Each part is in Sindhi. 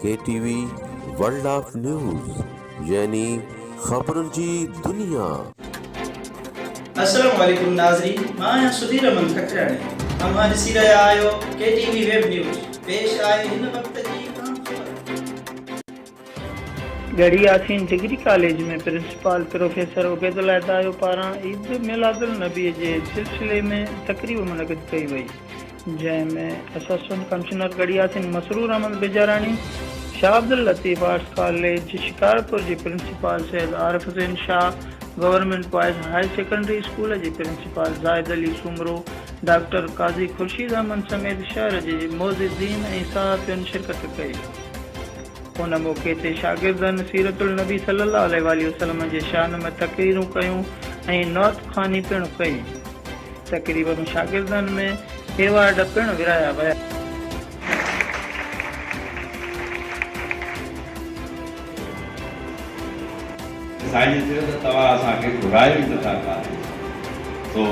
K T V world of news يعني خبرن جي دنيا. السلام عليڪم ناظرين مان آهيان سڌير امن ککرياڻي اوهان ڏسي رهيا آهيو K T V web news پيش آهي هن وقت جي اهم خبر. Garhi Yasin degree college ۾ principal professor Ubaidullah Dayo پاران عيد ميلادالنبي جي سلسلي ۾ تقريب منعقد ڪئي وئي، جنهن ۾ اسسٽنٽ ڪمشنر ڳڙهيا سنڌ مسرور احمد بيجاراڻي، شاهه عبداللطيف آرٽس ڪاليج شڪارپور جي principal Syed Arif Hussain Shah, government boys high secondary school جي پرنسپال زاهد علي سومرو، ڊاڪٽر قاضي خورشيد احمد سميت شهر جي معززين ۽ صحافين شرڪت ڪئي. ان موقعي تي شاگردن سيرت النبي صلي الله عليه واٰله وسلم جي شان ۾ تقريرون ڪيون ۽ نعت خواني پڻ ڪئي. تقريب ۾ شاگردن ۾ ايوارڊ پڻ ورهايا ويا. سائين جي چيو ته توهان اسان کي گهرايو ئي نٿا ڪاليج سو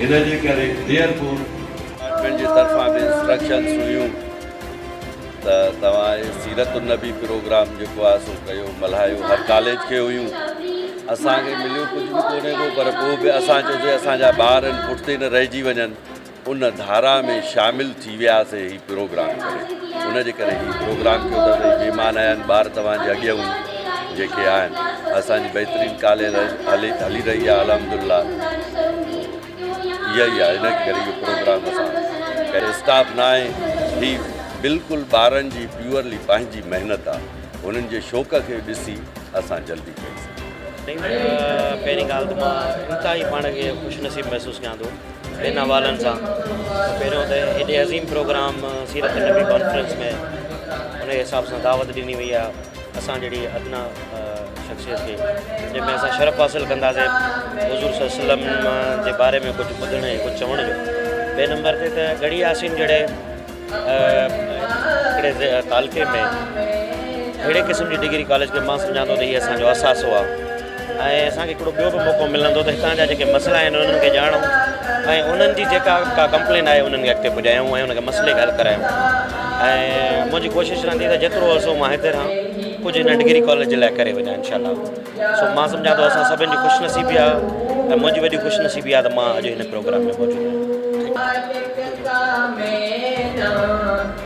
ان جي ڪري ديرپور. ڊپارٽمينٽ جي طرفان به انسٽرڪشنز هيون. ته توهان هي سيرت النبي پروگرام جيڪو آهي سو ڪيو ملهايو هر ڪاليج کي هيون اسان کي مليو ڪجهه به ڪونهي ڪو پر پوء به اسان جو جي اسان جا ٻار ان پٺتي نه رهجي وڃن ان ڌارا ۾ شامل ٿي وياسي هي پروگرام ڪري ان جي ڪري هي پروگرام ڪيو ته سائين مهمان آيا آهن ٻار توهان جي اڳيئون جيڪي آهن اسان جي بهترين ڪاليج هلي هلي رهي آهي الحمدلله اها ئي آهي انهي ڪري اهو پروگرام اسان ڪهڙي اسٽاف نه آهي هي بلڪل ٻارن جي پيورلي پنهنجي محنت آهي هنن جي شوق کي ڏسي اسان جلدي ڪري سگهون ٿا. پهرين ڳالهه ته مان انتهائي پاڻ کي خوش نصيب محسوس ڪيان ٿو هن حوالن سان ته پهريون ته هيڏي عظيم پروگرام سيرت النبي ڪانفرنس ۾ انهي حساب سان دعوت ڏني وئي آهي اسان جهڙي ادنيٰ شخصيت کي جنهن ۾ اسان شرف حاصل ڪنداسين حضور صلي الله عليه وسلم جي باري ۾ ڪجهه ٻڌڻ ۽ ڪجهه چوڻ جو ٻئي نمبر تي ته ڳڙهي ياسين جهڙي هڪڙي تعلقي ۾ اهڙي قسم جي ڊگري ڪاليج کي مان سمجهان ٿو ته هي اسان جو اثاثو آهي ۽ اسان کي هڪڙو ٻيو به موقعو ملندو ته هتان جا جيڪي مسئلا آهن انهن کي ڄاڻون ۽ انهن جي جيڪا ڪا ڪمپلين آهي انهن کي اڳتي پڄايون ۽ ان کي مسئلي کي حل ڪرايون ۽ منهنجي ڪوشش رهندي ته جيترو عرصو مان هتي رهان ڪجهه هن ڊگري ڪاليج جي لاء ڪري وڃان انشاء الله سو مان سمجهان ٿو اسان سڀن جي خوش نصيبي آهي ۽ منهنجي وڏي خوش نصيبي آهي ته مان اڄ هن پروگرام ۾ موجود آهيان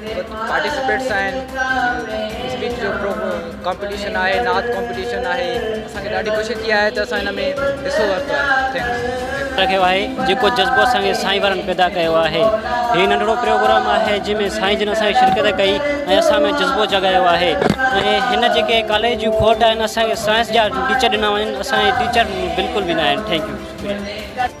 پارٽيسپيٽس آهن اسپيچ جو ڪمپٽيشن آهي نعت ڪمپٽيشن آهي اسان کي ڏاڍي خوشي ٿي آهي ته اسان ان ۾ حصو ورتو آهي ٿينڪس رکيو آهي جيڪو جذبو اسان کي سائين وارن پيدا ڪيو آهي هي ننڍڙو پروگرام آهي جنهن ۾ سائين جن اسان کي شرڪت ڪئي ۽ اسان ۾ جذبو جڳايو آهي ۽ هن جيڪي ڪاليج جون کوٽ آهن اسان کي سائنس جا ٽيچر ڏنا وڃن اسان جي ٽيچر بلڪل به نه آهن ٿينڪ يو شڪريا